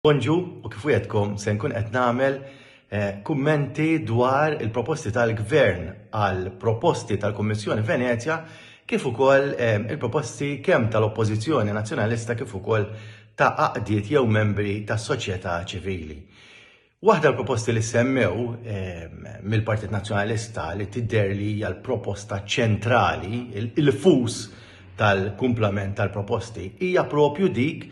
Bonġu u kif wieħedkom se nkun qed nagħmel eh, kummenti dwar il-proposti tal-Gvern għal proposti tal-Kummissjoni Venezja kif ukoll eh, il-proposti kemm tal-Oppożizzjoni Nazzjonalista kif ukoll ta' aqdiet jew membri tas-soċjetà ċivili. Waħda l-proposti li semmew eh, mill-Partit Nazzjonalista li tidher li hija l-proposta ċentrali, il-fus tal-kumplament tal-proposti, hija propju dik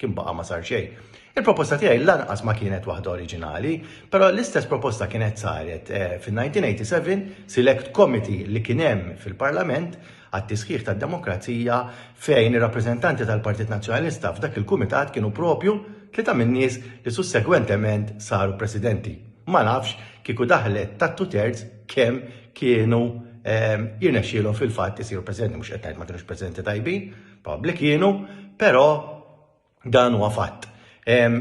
kien baqa' ma sar xejn. Il-proposta tiegħi lanqas ma kienet waħda oriġinali, però l-istess proposta kienet saret eh, fin-1987 Select Committee li kien hemm fil-Parlament għat-tisħiħ tad-demokrazija fejn ir-rappreżentanti tal-Partit Nazzjonalista f'dak il-kumitat kienu propju tlieta min-nies li sussegwentement saru presidenti. Ma nafx kieku daħlet ta' two thirds kemm kienu eh, jirnexxielhom fil-fatt isiru presidenti mhux qed ngħid ma kienux presidenti tajbin, Pubblic kienu, però dan huwa fatt.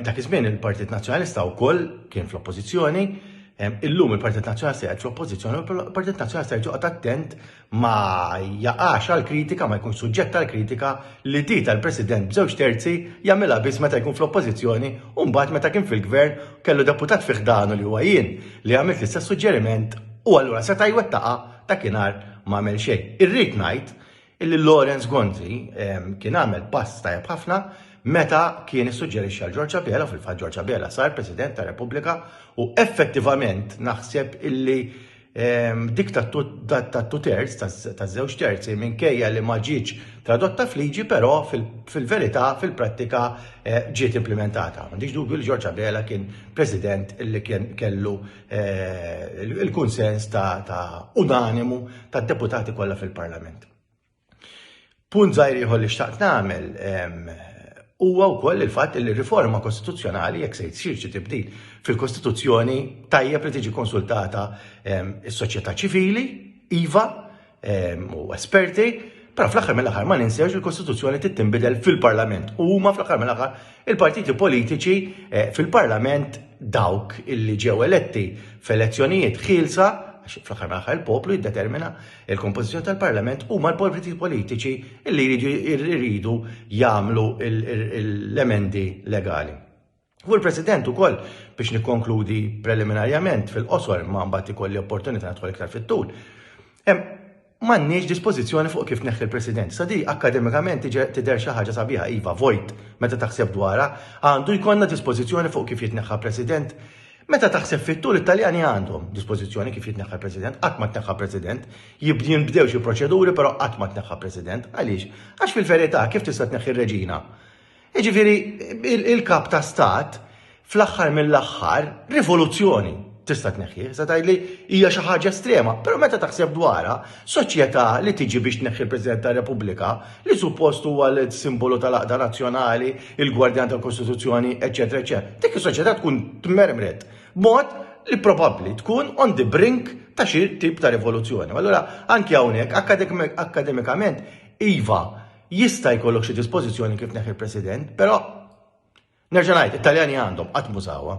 Dak iż-żmien il-Partit Nazzjonalista wkoll kien fl-Oppożizzjoni, illum il-Partit Nazzjonalista qed fl-Oppożizzjoni u l-Partit Nazzjonalista jrid joqgħod attent ma jaqax għal kritika, ma jkun suġġett għal kritika li di tal-President b'żewġ terzi jagħmilha biss meta jkun fl-Oppożizzjoni u mbagħad meta kien fil-Gvern kellu deputat fi ħdanu li huwa jien li għamilt l-istess suġġeriment u allura seta' jwettaqha dakinhar ma għamel xejn. Irrid ngħid illi Lawrence Gonzi ehm, kien għamel pass tajjeb ħafna meta kien issuġġerixxa għal Ġorġa Bela, fil-fatt Ġorġa Bela sar President ta' Repubblika u effettivament naħseb illi ehm, dik ta' two terz, ta' żewġ terzi, minkejja li ma ġietx tradotta fliġi, però fil-verità, fil-prattika eh, ġiet implementata. M'għandix dubju li Ġorġa Bela kien President illi kien kellu eh, il-kunsens ta', ta unanimu ta' deputati kollha fil-Parlament. Punt zaħir jħol li xtaqt nagħmel huwa wkoll il-fatt li riforma kostituzzjonali jekk se jsir xi tibdil fil-Kostituzzjoni tajjeb li tiġi konsultata is-soċjetà ċivili, iva, ehm, u esperti, però fl-aħħar mill-aħħar ma ninsewx il-Kostituzzjoni trid tinbidel fil-Parlament. U huma fl-aħħar mill-aħħar il-partiti politiċi eh, fil-Parlament dawk illi ġew eletti f'elezzjonijiet ħielsa fl-aħħar mill-aħħar il-poplu jiddetermina il-kompożizzjoni tal-Parlament huma l-partiti politiċi illi jridu jagħmlu l-emendi legali. U l-President ukoll biex nikkonkludi preliminarjament fil-qosor ma mbagħad ikolli opportunità nidħol iktar fit-tul. M'għandniex dispożizzjoni fuq kif neħħi l-President. Sa di akkademikament tidher xi ħaġa sabiħa iva vojt meta taħseb dwarha, għandu jkollna dispożizzjoni fuq kif jitneħħa President. Meta taħseb fit-tul it-Taljani għandhom dispożizzjoni kif jitneħħa President, qatt ma tneħħa President, jibdin bdew xi proċeduri però qatt ma tneħħa President. Għaliex? Għax fil-verità kif tista' tneħħi r-reġina? Jiġifieri il-kap ta' stat fl-aħħar mill-aħħar rivoluzzjoni tista' tneħħi, sa tgħidli hija xi ħaġa estrema, però meta taħseb dwarha, soċjetà li tiġi biex tneħħi l-President tar-Repubblika, li suppost huwa l-simbolu tal-aqda nazzjonali, il-gwardjan tal-Kostituzzjoni, eċetera, eċetera. Dik is-soċjetà tkun tmermret b'mod li probabbli tkun on the brink ta' xi tip ta' rivoluzzjoni. Allura anke hawnhekk akademikament iva Jista' jkollok xi dispożizzjoni kif tneħħi l-President, però nerġa' ngħid, it-Taljani għandhom qatt mużawha.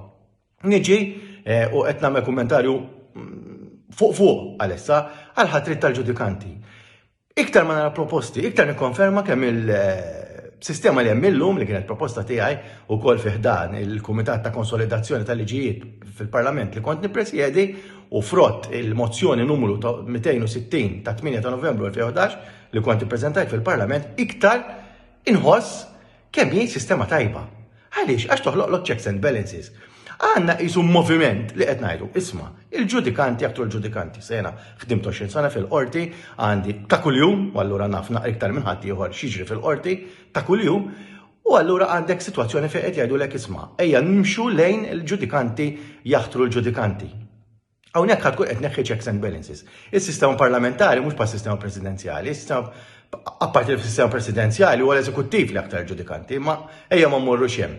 Niġi eh, u qed nagħmel kummentarju mm, fuq fuq għalissa għal ħatrit tal-ġudikanti. Iktar ma nara proposti, iktar nikkonferma kemm il- eh, sistema li hemm illum li kienet proposta tiegħi wkoll fi ħdan il-Kumitat ta' Konsolidazzjoni tal-Liġijiet fil-Parlament li kont nippresjedi u frott il-mozzjoni numru 260 ta' 8 ta' Novembru 2011 li kont ippreżentajt fil-Parlament iktar inħoss kemm hi sistema tajba. Għaliex? Għax toħloqlok checks and balances. Għanna qisu moviment li qed ngħidu, isma, il-ġudikanti aktar ġudikanti sena ħdim 20 sena fil-qorti għandi ta' kuljum, u allura naf naqra iktar minn ħadd ieħor xiġri fil-qorti ta' kuljum, u allura għandek sitwazzjoni fejn qed jgħidulek isma, ejja nimxu lejn il-ġudikanti jaħtru l-ġudikanti. Hawnhekk ħadd tkun qed neħħi checks and balances. Is-sistema parlamentari mhux pa' sistema presidenzjali, is-sistema apparti li fis-sistema presidenzjali huwa l-eżekuttiv li aktar ġudikanti, ma ejja ma mmorru xem.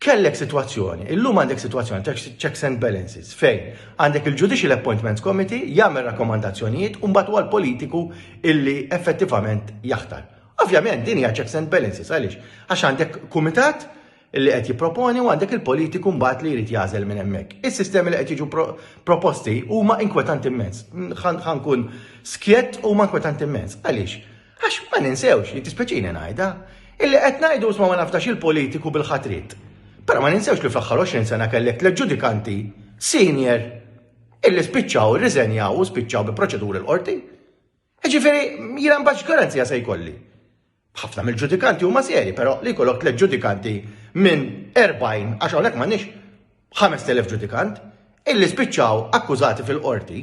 Kellek situazzjoni, illum għandek situazzjoni ta' checks and balances fejn għandek il-Judicial Appointments Committee jagħmel rakkomandazzjonijiet u mbagħad huwa l-politiku illi effettivament jaħtar. Ovvjament din hija checks and balances għaliex għax għandek kumitat li qed jipproponi u għandek il-politiku mbagħad li jrid jagħżel minn hemmhekk. Is-sistemi li qed jiġu proposti huma inkwetanti immens. Ħankun skjett huma inkwetanti immens. Għaliex? Għax ma ninsewx li tispeċini ngħidha illi qed ngħidu isma' ma nafdax il-politiku bil-ħatrit. Però ma ninsewx li fl-aħħar 20 sena kellek tliet ġudikanti senior illi spiċċaw irriżenjaw u spiċċaw bi proċeduri l-qorti. Ġifieri jiena mbax garanzija se jkolli. Ħafna mill-ġudikanti huma serji, però li jkollok tliet ġudikanti minn 40 għax hawnhekk m'għandniex 5000 ġudikant illi spiċċaw akkużati fil-qorti.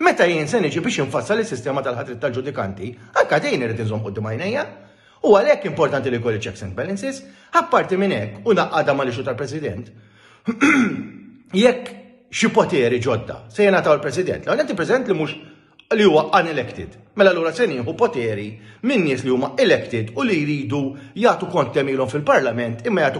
Meta jien se niġi biex infassal is-sistema tal-ħatrit tal-ġudikanti, anka din irid inżomm qudiem għajnejja. U għalhekk importanti li jkolli checks and balances, apparti minn hekk u naqqada mal ixu tal-President. Jekk xi poteri ġodda se jingħataw il-President, l-għonet il-President li mhux li huwa unelected. Mela allura se nieħu poteri minn nies li huma elected u li jridu jagħtu kont kemm ilhom fil-Parlament imma jagħtu